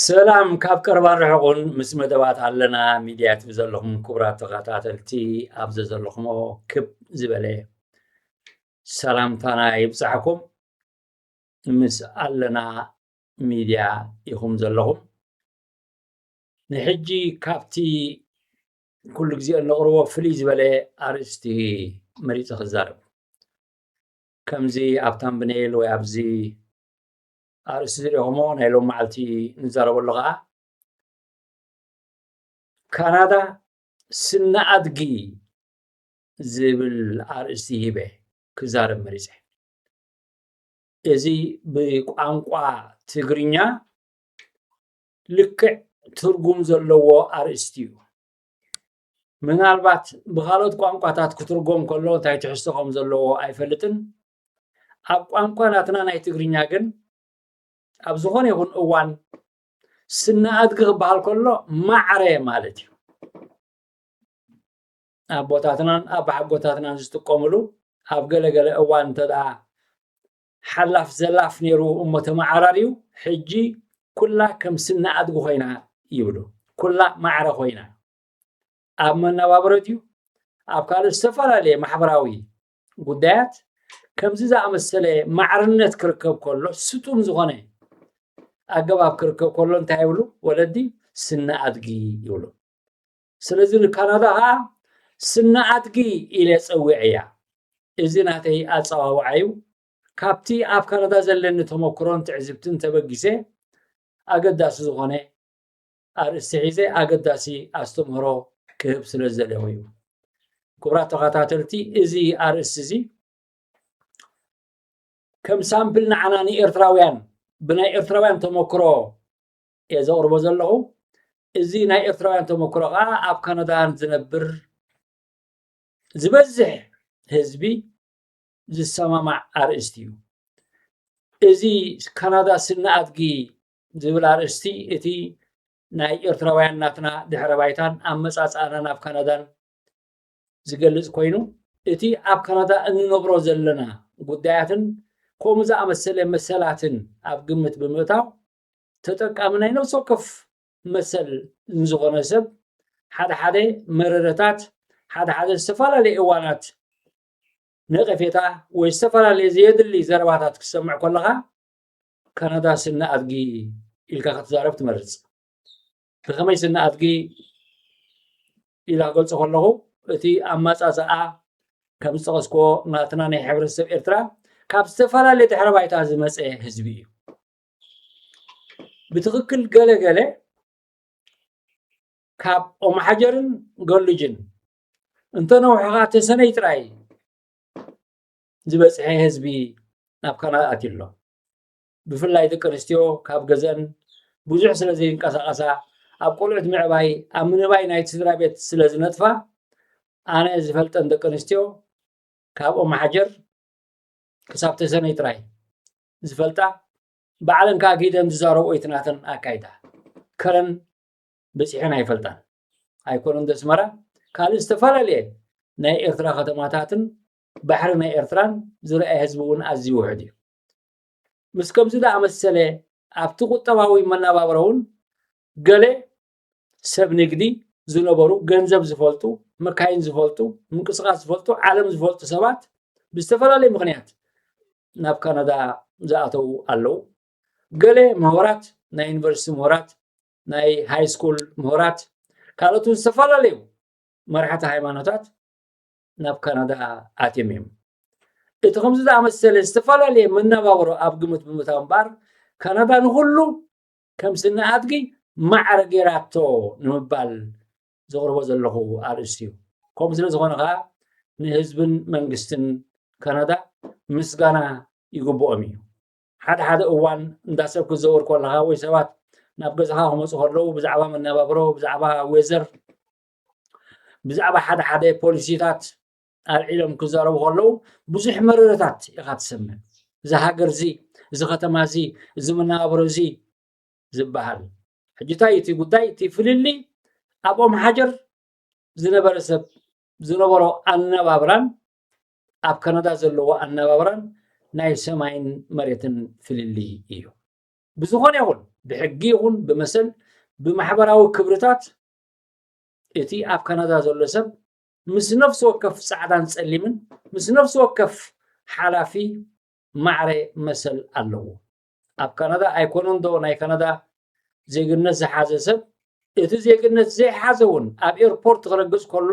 ሰላም ካብ ቀረባን ርሕቑን ምስ መደባት ኣለና ሚድያ ትብ ዘለኹም ክቡራት ተኸታተልቲ ኣብ ዘለኹሞ ክብ ዝበለ ሰላምታና ይብፃሕኩም ምስ ኣለና ሚድያ ኢኹም ዘለኹም ንሕጂ ካብቲ ኩሉ ግዜ እንቕርቦ ፍልይ ዝበለ ኣርእስቲ መሪፀ ክዛረብ ከምዚ ኣብ ታምብነይል ወይ ኣብዚ ኣርእስቲ ዝሪኦሞ ናይ ሎም መዓልቲ ንዛረበሉ ከዓ ካናዳ ስነ ኣድጊ ዝብል ኣርእስቲ ሂበ ክዛረብ መሪፀ እዚ ብቋንቋ ትግርኛ ልክዕ ትርጉም ዘለዎ ኣርእስቲ እዩ። ምናልባት ብኻልኦት ቋንቋታት ክትርጎም ከሎ እንታይ ትሕዝቶ ከም ዘለዎ ኣይፈልጥን። ኣብ ቋንቋ ናትና ናይ ትግርኛ ግን ኣብ ዝኾነ ይኹን እዋን ስነ ኣድጊ ክበሃል ከሎ ማዕረ ማለት እዩ ኣቦታትናን ኣባሓጎታትናን ዝጥቀምሉ ኣብ ገለገለ እዋን እንተደኣ ሓላፍ ዘላፍ ነይሩ እሞ ተመዓራርዩ ሕጂ ኩላ ከም ስኒ ኣድጊ ኮይና ይብሉ። ኩላ ማዕረ ኮይና ኣብ መነባብሮ ድዩ ኣብ ካልእ ዝተፈላለየ ማሕበራዊ ጉዳያት ከምዚ ዝኣመሰለ ማዕርነት ክርከብ ከሎ ስጡም ዝኾነ ኣገባብ ክርከብ ከሎ እንታይ ይብሉ ወለዲ ስኒ ኣድጊ ይብሉ። ስለዚ ንካናዳ ኸዓ ስነ ኣድጊ ኢለ ጸዊዐያ። እዚ ናተይ ኣጸዋውዓ ዩ። ካብቲ ኣብ ካናዳ ዘለኒ ተመኩሮን ትዕዝብትን ተበጊሰ ኣገዳሲ ዝኾነ ኣርእስቲ ሒዘ ኣገዳሲ ኣስተምህሮ ክህብ ስለ ዝደለኹ ዩ። ክቡራት ተኸታተልቲ እዚ ኣርእስቲ እዚ ከም ሳምፕል ንዓና ንኤርትራውያን ብናይ ኤርትራውያን ተመክሮ እየ ዘቕርቦ ዘለኹ። እዚ ናይ ኤርትራውያን ተመክሮ ከዓ ኣብ ካናዳን ዝነብር ዝበዝሕ ህዝቢ ዝሰማማዕ ኣርእስቲ እዩ። እዚ ካናዳ ስነ ኣድጊ ዝብል ኣርእስቲ እቲ ናይ ኤርትራውያን ናትና ድሕረ ባይታን ኣመፃፅኣና ናብ ካናዳን ዝገልፅ ኮይኑ እቲ ኣብ ካናዳ እንነብሮ ዘለና ጉዳያትን ከምኡ ዝኣመሰለ መሰላትን ኣብ ግምት ብምእታው ተጠቃሚ ናይ ነብሲ ወከፍ መሰል ንዝኾነ ሰብ ሓደ ሓደ መረረታት ሓደ ሓደ ዝተፈላለየ እዋናት ነቐፌታ ወይ ዝተፈላለየ ዘየድሊ ዘረባታት ክሰምዕ ከለኻ ካናዳ ስነ ኣድጊ ኢልካ ክትዛረብ ትመርጽ ብኸመይ ስነ ኣድጊ ኢላ ክገልጾ ከለኹ እቲ ኣመጻጽኣ ከም ዝጠቐስክዎ ናትና ናይ ሕብረተሰብ ኤርትራ ካብ ዝተፈላለየ ድሕረ ባይታ ዝመፀ ህዝቢ እዩ ብትኽክል ገለ ገለ ካብ ኦምሓጀርን ገሉጅን እንተነውሕኻ ተሰነይ ጥራይ ዝበፅሐ ህዝቢ ናብ ካናዳ ኣትዩ ኣሎ ብፍላይ ደቂ ኣንስትዮ ካብ ገዘን ብዙሕ ስለ ዘይንቀሳቐሳ ኣብ ቆልዑት ምዕባይ ኣብ ምንባይ ናይ ስድራ ቤት ስለ ዝነጥፋ ኣነ ዝፈልጠን ደቂ ኣንስትዮ ካብ ኦምሓጀር ክሳብ ተሰነይ ጥራይ ዝፈልጣ ባዕለን ከዓ ከይደን ዝዛረብኦ እቲ ናተን ኣካይዳ ከረን በፂሐን ኣይፈልጣን ኣይኮነን ዘስመራ ካልእ ዝተፈላለየ ናይ ኤርትራ ከተማታትን ባሕሪ ናይ ኤርትራን ዝረኣየ ህዝቢ እውን ኣዝዩ ውሕድ እዩ ምስ ከምዚ ዝኣመሰለ ኣብቲ ቁጠባዊ መነባብሮ እውን ገለ ሰብ ንግዲ ዝነበሩ ገንዘብ ዝፈልጡ መካይን ዝፈልጡ ምንቅስቃስ ዝፈልጡ ዓለም ዝፈልጡ ሰባት ብዝተፈላለየ ምክንያት ናብ ካናዳ ዝኣተው ኣለው ገለ ምሁራት ናይ ዩኒቨርሲቲ ምሁራት ናይ ሃይ ስኩል ምሁራት ካልኦት ዝተፈላለዩ መራሕቲ ሃይማኖታት ናብ ካናዳ ኣትዮም እዮም እቲ ከምዚ ዝኣመሰለ ዝተፈላለየ መነባብሮ ኣብ ግምት ብምታው እምበኣር ካናዳ ንኩሉ ከም ስኒ ኣድጊ ማዕረ ጌራቶ ንምባል ዘቕርቦ ዘለኹ ኣርእስቲ እዩ። ከምኡ ስለ ዝኾነ ከኣ ንህዝብን መንግስትን ካናዳ ምስጋና ይግብኦም እዩ። ሓደ ሓደ እዋን እንዳ ሰብ ክትዘውር ከለኻ ወይ ሰባት ናብ ገዛኻ ክመፁ ከለዉ ብዛዕባ መነባብሮ ብዛዕባ ዌዘር ብዛዕባ ሓደ ሓደ ፖሊሲታት ኣልዒሎም ክዛረቡ ከለዉ ብዙሕ መረረታት ኢኻ ትሰምዕ እዚ ሃገር እዚ እዚ ከተማ እዚ እዚ መነባብሮ እዚ ዝበሃል ሕጂ እንታይ እቲ ጉዳይ እቲ ፍልሊ ኣብ ኦም ሓጀር ዝነበረ ሰብ ዝነበሮ ኣነባብራን ኣብ ካናዳ ዘለዎ ኣነባብራን ናይ ሰማይን መሬትን ፍልሊ እዩ ብዝኾነ ይኹን ብሕጊ ይኹን ብመሰል ብማሕበራዊ ክብርታት እቲ ኣብ ካናዳ ዘሎ ሰብ ምስ ነፍሲ ወከፍ ጻዕዳን ጸሊምን ምስ ነፍሲ ወከፍ ሓላፊ ማዕረ መሰል ኣለዎ። ኣብ ካናዳ ኣይኮነንዶ ናይ ካናዳ ዜግነት ዝሓዘ ሰብ እቲ ዜግነት ዘይሓዘ እውን ኣብ ኤርፖርት ክረግጽ ከሎ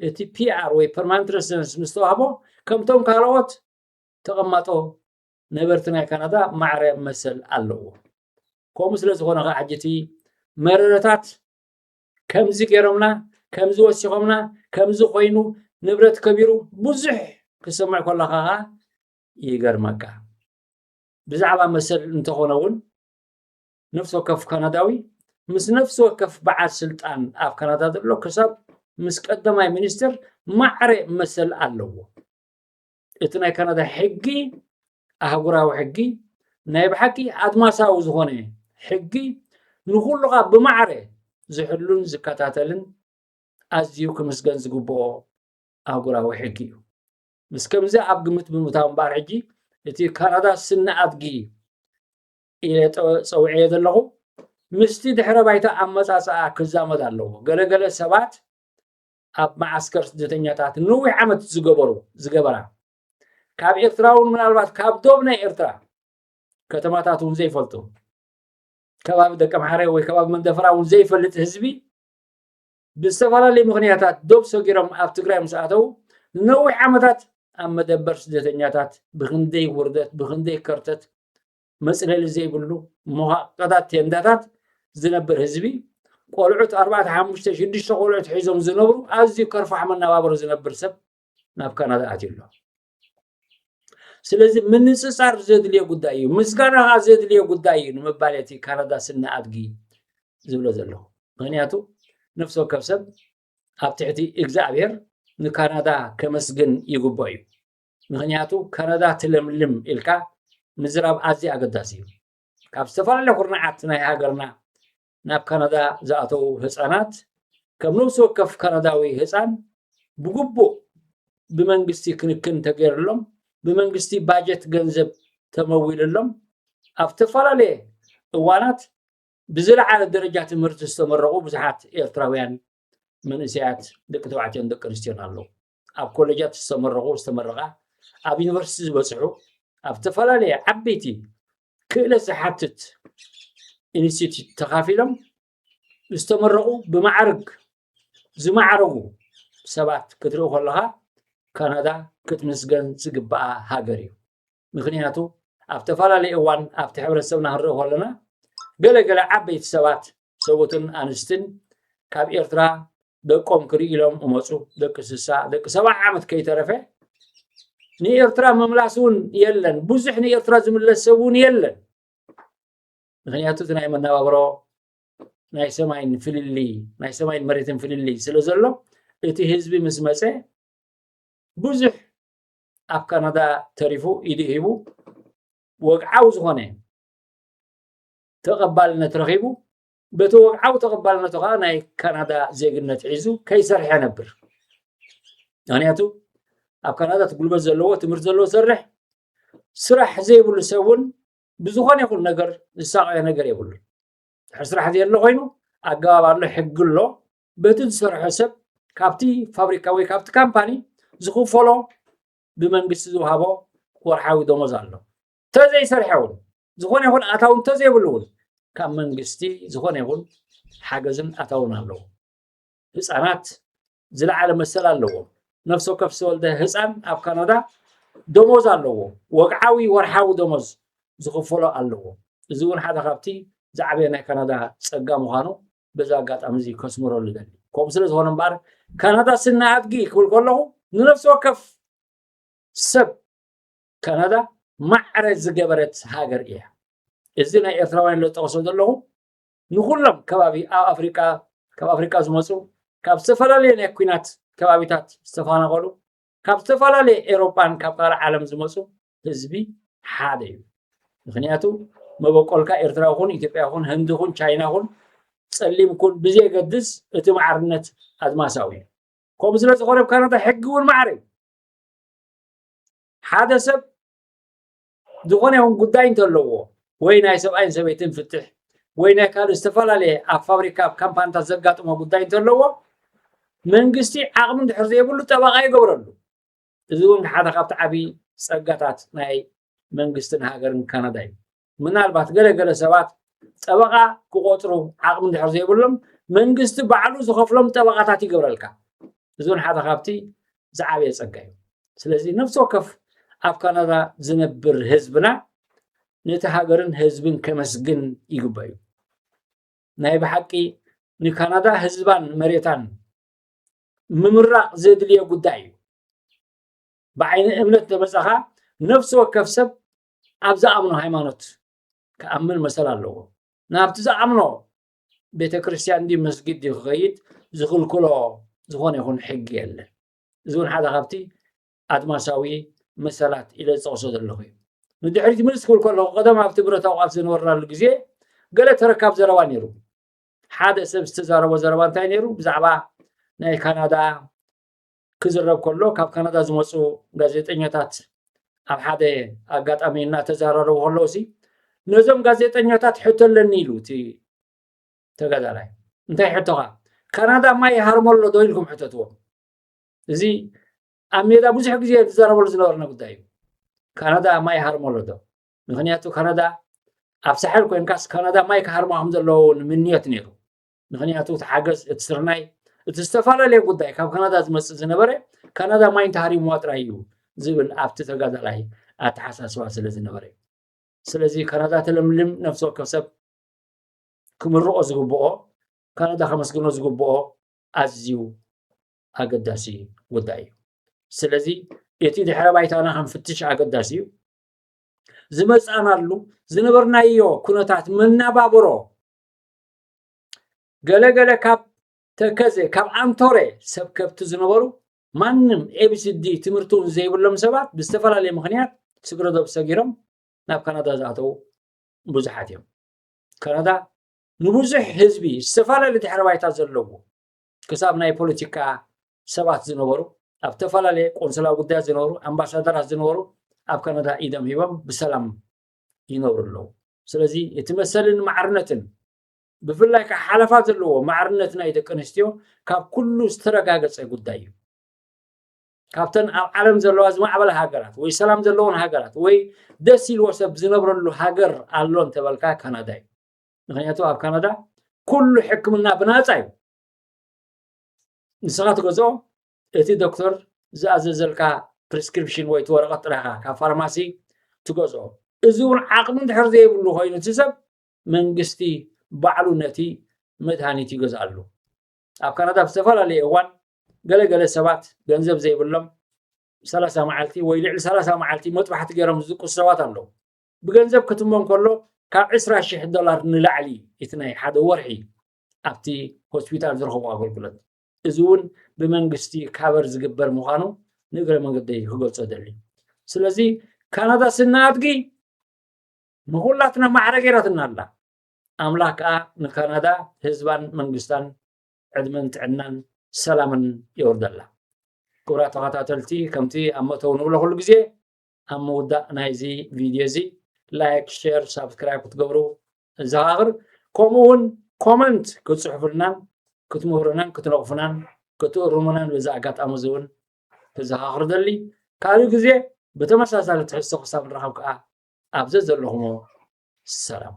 እቲ ፒኣር ወይ ፐርማንት ረሲደንስ ምስ ተዋህቦ ከምቶም ካልኦት ተቐማጦ ነበርቲ ናይ ካናዳ ማዕረ መሰል ኣለዎ። ከምኡ ስለ ዝኾነ ከዓ ሕጂ እቲ መረረታት ከምዚ ገይሮምና ከምዚ ወሲኾምና ከምዚ ኮይኑ ንብረት ከቢሩ ብዙሕ ክሰምዕ ከለኻ ኸዓ ይገርመካ ብዛዕባ መሰል እንተኾነ እውን ነፍሲ ወከፍ ካናዳዊ ምስ ነፍሲ ወከፍ በዓል ስልጣን ኣብ ካናዳ ዘሎ ክሳብ ምስ ቀዳማይ ሚኒስትር ማዕረ መሰል ኣለዎ እቲ ናይ ካናዳ ሕጊ ኣህጉራዊ ሕጊ ናይ ብሓቂ ኣድማሳዊ ዝኾነ ሕጊ ንኹሉኻ ብማዕረ ዝሕሉን ዝከታተልን ኣዝዩ ክምስገን ዝግብኦ ኣህጉራዊ ሕጊ እዩ ምስ ከምዚ ኣብ ግምት ብምታው እምበኣር ሕጂ እቲ ካናዳ ስነ ኣድጊ ኢለ ፀውዐዮ ዘለኹ ምስቲ ድሕረ ባይታ ኣመፃፅኣ ክዛመድ ኣለዎ ገለገለ ሰባት ኣብ መዓስከር ስደተኛታት ንዊሕ ዓመት ዝገበሩ ዝገበራ ካብ ኤርትራ እውን ምናልባት ካብ ዶብ ናይ ኤርትራ ከተማታት እውን ዘይፈልጡ ከባቢ ደቂ ኣምሓረ ወይ ከባቢ መንደፈራ እውን ዘይፈልጥ ህዝቢ ብዝተፈላለዩ ምክንያታት ዶብ ሰጊሮም ኣብ ትግራይ ምስ ኣተዉ ንነዊሕ ዓመታት ኣብ መደበር ስደተኛታት ብክንደይ ውርደት ብክንደይ ከርተት መፅለሊ ዘይብሉ መዋቀታት ቴንዳታት ዝነብር ህዝቢ ቆልዑት ኣርባዕተ ሓሙሽተ ሽዱሽተ ቆልዑት ሒዞም ዝነብሩ ኣዝዩ ከርፋሕ መነባብሮ ዝነብር ሰብ ናብ ካናዳ ኣትዩ ኣሎ ስለዚ ምንፅፃር ዘድልዮ ጉዳይ እዩ ምስጋና ከዓ ዘድልዮ ጉዳይ እዩ ንምባል እቲ ካናዳ ስነ ኣድጊ ዝብሎ ዘለኹ ምክንያቱ ነፍሲ ወከፍ ሰብ ኣብ ትሕቲ እግዚኣብሔር ንካናዳ ከመስግን ይግብኦ እዩ ምክንያቱ ካናዳ ትለምልም ኢልካ ምዝራብ ኣዝዩ ኣገዳሲ እዩ ካብ ዝተፈላለዩ ኩርናዓት ናይ ሃገርና ናብ ካናዳ ዝኣተዉ ህጻናት ከም ነብሲ ወከፍ ካናዳዊ ህጻን ብግቡእ ብመንግስቲ ክንክን ተገይርሎም ብመንግስቲ ባጀት ገንዘብ ተመዊልሎም ኣብ ተፈላለየ እዋናት ብዝለዓለ ደረጃ ትምህርቲ ዝተመረቑ ብዙሓት ኤርትራውያን መንእሰያት ደቂ ተባዕትዮን ደቂ ኣንስትዮን ኣለዉ ኣብ ኮሌጃት ዝተመረቑ ዝተመረቓ ኣብ ዩኒቨርሲቲ ዝበፅሑ ኣብ ዝተፈላለየ ዓበይቲ ክእለት ዝሓትት ኢንስቲትዩት ተኻፊሎም ዝተመረቑ ብማዕርግ ዝማዕረጉ ሰባት ክትርኢ ከለኻ ካናዳ ክትምስገን ዝግብኣ ሃገር እዩ ምክንያቱ ኣብ ተፈላለየ እዋን ኣብቲ ሕብረተሰብና ክንርኢ ከለና ገለገለ ዓበይቲ ሰባት ሰቡትን ኣንስትን ካብ ኤርትራ ደቆም ክርኢ ኢሎም እመፁ ደቂ ስሳ ደቂ ሰብዓ ዓመት ከይተረፈ ንኤርትራ ምምላስ እውን የለን ብዙሕ ንኤርትራ ዝምለስ ሰብ እውን የለን ምክንያቱ እቲ ናይ መነባብሮ ናይ ሰማይን ፍልሊ ናይ ሰማይን መሬትን ፍልሊ ስለ ዘሎ እቲ ህዝቢ ምስ መፀ ብዙሕ ኣብ ካናዳ ተሪፉ ኢዱ ሂቡ ወግዓዊ ዝኾነ ተቐባልነት ረኺቡ፣ በቲ ወግዓዊ ተቐባልነቱ ከኣ ናይ ካናዳ ዜግነት ሒዙ ከይሰርሐ ነብር። ምክንያቱ ኣብ ካናዳ እቲ ጉልበት ዘለዎ ትምህርቲ ዘለዎ ዝሰርሕ ስራሕ ዘይብሉ ሰብ እውን ብዝኾነ ይኹን ነገር ዝሳቀዮ ነገር የብሉ ድሕሪ ስራሕ ዘየሎ ኮይኑ ኣገባብ ኣሎ ሕጊ ኣሎ በቲ ዝሰርሖ ሰብ ካብቲ ፋብሪካ ወይ ካብቲ ካምፓኒ ዝኽፈሎ ብመንግስቲ ዝውሃቦ ወርሓዊ ደሞዝ ኣሎ እንተዘይሰርሐ እውን ዝኾነ ይኹን ኣታዊ እንተዘይብሉ እውን ካብ መንግስቲ ዝኾነ ይኹን ሓገዝን ኣታውን ኣለዎ ህፃናት ዝለዓለ መሰል ኣለዎ ነፍሲ ወከፍ ዝተወልደ ህፃን ኣብ ካናዳ ደሞዝ ኣለዎ ወግዓዊ ወርሓዊ ደሞዝ ዝኽፈሎ ኣለዎ እዚ እውን ሓደ ካብቲ ዝዓበየ ናይ ካናዳ ፀጋ ምዃኑ በዚ ኣጋጣሚ እዚ ከስምረሉ ይደሊ ከምኡ ስለ ዝኾነ እምበኣር ካናዳ ስነ ኣድጊ ክብል ከለኹ ንነፍሲ ወከፍ ሰብ ካናዳ ማዕረ ዝገበረት ሃገር እያ እዚ ናይ ኤርትራውያን ለጠቕሶ ዘለኹ ንኩሎም ከባቢ ኣብ ኣፍሪቃ ካብ ኣፍሪቃ ዝመፁ ካብ ዝተፈላለየ ናይ ኩናት ከባቢታት ዝተፈናቐሉ ካብ ዝተፈላለየ ኤሮጳን ካብ ካልእ ዓለም ዝመፁ ህዝቢ ሓደ እዩ ምክንያቱ መበቆልካ ኤርትራ ኹን ኢትዮጵያ ኹን ህንዲ ኹን ቻይና ኹን ፀሊም ኩን ብዘየገድስ እቲ ማዕርነት ኣድማሳዊ እዩ ከምኡ ስለ ዝኾነ ኣብ ካናዳ ሕጊ እውን ማዕረ እዩ ሓደ ሰብ ዝኾነ ይኹን ጉዳይ እንተለዎ ወይ ናይ ሰብኣይን ሰበይትን ፍትሕ ወይ ናይ ካልእ ዝተፈላለየ ኣብ ፋብሪካ ኣብ ካምፓኒታት ዘጋጥሞ ጉዳይ እንተለዎ መንግስቲ ዓቕሚ እንድሕር ዘይብሉ ጠበቓ ይገብረሉ እዚ እውን ሓደ ካብቲ ዓብዪ ጸጋታት ናይ መንግስትን ሃገርን ካናዳ እዩ ምናልባት ገለ ገለ ሰባት ጠበቓ ክቆፅሩ ዓቕሚ እንድሕር ዘይብሎም መንግስቲ ባዕሉ ዝኸፍሎም ጠበቓታት ይገብረልካ እዚ እውን ሓደ ካብቲ ዝዓበየ ፀጋ እዩ ስለዚ ነፍሲ ወከፍ ኣብ ካናዳ ዝነብር ህዝብና ነቲ ሃገርን ህዝብን ከመስግን ይግበ እዩ ናይ ብሓቂ ንካናዳ ህዝባን መሬታን ምምራቕ ዘድልዮ ጉዳይ እዩ ብዓይኒ እምነት ተመፀኻ ነፍሲ ወከፍ ሰብ ኣብ ዝኣምኖ ሃይማኖት ክኣምን መሰል ኣለዎ ናብቲ ዝኣምኖ ቤተ ክርስቲያን ዲ መስጊድ ዲ ክኸይድ ዝኽልክሎ ዝኾነ ይኹን ሕጊ የለን እዚ እውን ሓደ ካብቲ ኣድማሳዊ መሰላት ኢለ ዝፀቕሶ ዘለኹ እዩ ንድሕሪት ምልስ ክብል ከለኹ ቀደም ኣብቲ ብረታዊ ቃልሲ ዝነበርናሉ ግዜ ገለ ተረካብ ዘረባ ነይሩ ሓደ ሰብ ዝተዛረቦ ዘረባ እንታይ ነይሩ ብዛዕባ ናይ ካናዳ ክዝረብ ከሎ ካብ ካናዳ ዝመፁ ጋዜጠኛታት ኣብ ሓደ ኣጋጣሚ እናተዘራረቡ ከለዉ ሲ ነዞም ጋዜጠኛታት ሕቶ ኣለኒ ኢሉ እቲ ተጋዳላይ እንታይ ሕቶኻ ካናዳ ማይ ይሃርሞ ኣሎ ዶ ኢልኩም ሕተትዎ እዚ ኣብ ሜዳ ብዙሕ ግዜ ዝዘረበሉ ዝነበርነ ጉዳይ እዩ ካናዳ ማይ ይሃርሞ ኣሎ ዶ ምክንያቱ ካናዳ ኣብ ሳሕል ኮይንካስ ካናዳ ማይ ክሃርማ ከም ዘለዎ ንምንዮት ነይሩ ምክንያቱ እቲ ሓገዝ እቲ ስርናይ እቲ ዝተፈላለየ ጉዳይ ካብ ካናዳ ዝመፅእ ዝነበረ ካናዳ ማይ እንተሃሪምዋ ጥራይ እዩ ዝብል ኣብቲ ተጋዳላይ ኣተሓሳስባ ስለ ዝነበረ ስለዚ ካናዳ ተለምልም ነፍሲ ወከፍ ሰብ ክምርቆ ዝግብኦ ካናዳ ከመስግኖ ዝግብኦ ኣዝዩ ኣገዳሲ ጉዳይ እዩ ስለዚ እቲ ድሕረ ባይታና ክንፍትሽ ኣገዳሲ እዩ ዝመፃናሉ ዝነበርናዮ ኩነታት መናባብሮ ገለ ገለ ካብ ተከዘ ካብ ኣንቶረ ሰብ ከብቲ ዝነበሩ ማንም ኤቢሲዲ ትምህርቲ እውን ዘይብሎም ሰባት ብዝተፈላለየ ምክንያት ስግረዶብ ሰጊሮም ናብ ካናዳ ዝኣተዉ ብዙሓት እዮም ካናዳ ንብዙሕ ህዝቢ ዝተፈላለዩ ድሕረ ባይታ ዘለዎ ክሳብ ናይ ፖለቲካ ሰባት ዝነበሩ ኣብ ዝተፈላለየ ቆንስላ ጉዳያት ዝነበሩ ኣምባሳደራት ዝነበሩ ኣብ ካናዳ ኢዶም ሂቦም ብሰላም ይነብሩ ኣለዉ ስለዚ እቲ መሰልን ማዕርነትን ብፍላይ ከዓ ሓለፋ ዘለዎ ማዕርነት ናይ ደቂ ኣንስትዮ ካብ ኩሉ ዝተረጋገፀ ጉዳይ እዩ ካብተን ኣብ ዓለም ዘለዋ ዝማዕበለ ሃገራት ወይ ሰላም ዘለዎን ሃገራት ወይ ደስ ኢልዎ ሰብ ዝነብረሉ ሃገር ኣሎ እንተበልካ ካናዳ እዩ ምክንያቱ ኣብ ካናዳ ኩሉ ሕክምና ብናፃ እዩ ንስኻ ትገዝኦ እቲ ዶክተር ዝኣዘዘልካ ፕሪስክሪፕሽን ወይ እቲ ወረቐት ጥራይ ኢኻ ካብ ፋርማሲ ትገዝኦ። እዚ እውን ዓቕሚ እንድሕር ዘይብሉ ኮይኑ እቲ ሰብ መንግስቲ ባዕሉ ነቲ መድሃኒት ይገዝኣሉ። ኣብ ካናዳ ኣብ ዝተፈላለየ እዋን ገለ ገለ ሰባት ገንዘብ ዘይብሎም ሰላሳ መዓልቲ ወይ ልዕሊ ሰላሳ መዓልቲ መጥባሕቲ ገይሮም ዝድቅሱ ሰባት ኣለዉ። ብገንዘብ ክትሞ እንከሎ ካብ ዕስራ ሽሕ ዶላር ንላዕሊ እዩ እቲ ናይ ሓደ ወርሒ ኣብቲ ሆስፒታል ዝረኽቦ ኣገልግሎት። እዚ እውን ብመንግስቲ ካበር ዝግበር ምዃኑ ንእግረ መንገደይ ክገልፆ ደሊ ስለዚ ካናዳ ስና ኣድጊ ንኹላትና ማዕረ ገይራትና ኣላ ኣምላኽ ከዓ ንካናዳ ህዝባን መንግስታን ዕድመን ጥዕናን ሰላምን የወርደላ ክብራ ተኸታተልቲ ከምቲ ኣብ መተው ንብሎ ኩሉ ግዜ ኣብ ምውዳእ ናይዚ ቪድዮ እዚ ላይክ ሸር ሳብስክራይብ ክትገብሩ ዘኻኽር ከምኡ እውን ኮመንት ክትፅሕፉልናን ክትምህሩናን ክትነቕፉናን ክትእርሙናን በዚ ኣጋጣሚ እዚ እውን ክዘኻኽር ደሊ ካልእ ግዜ ብተመሳሳሊ ትሕዝቶ ክሳብ ንራኸብ ከዓ ኣብ ዘዘለኹሞ ሰላም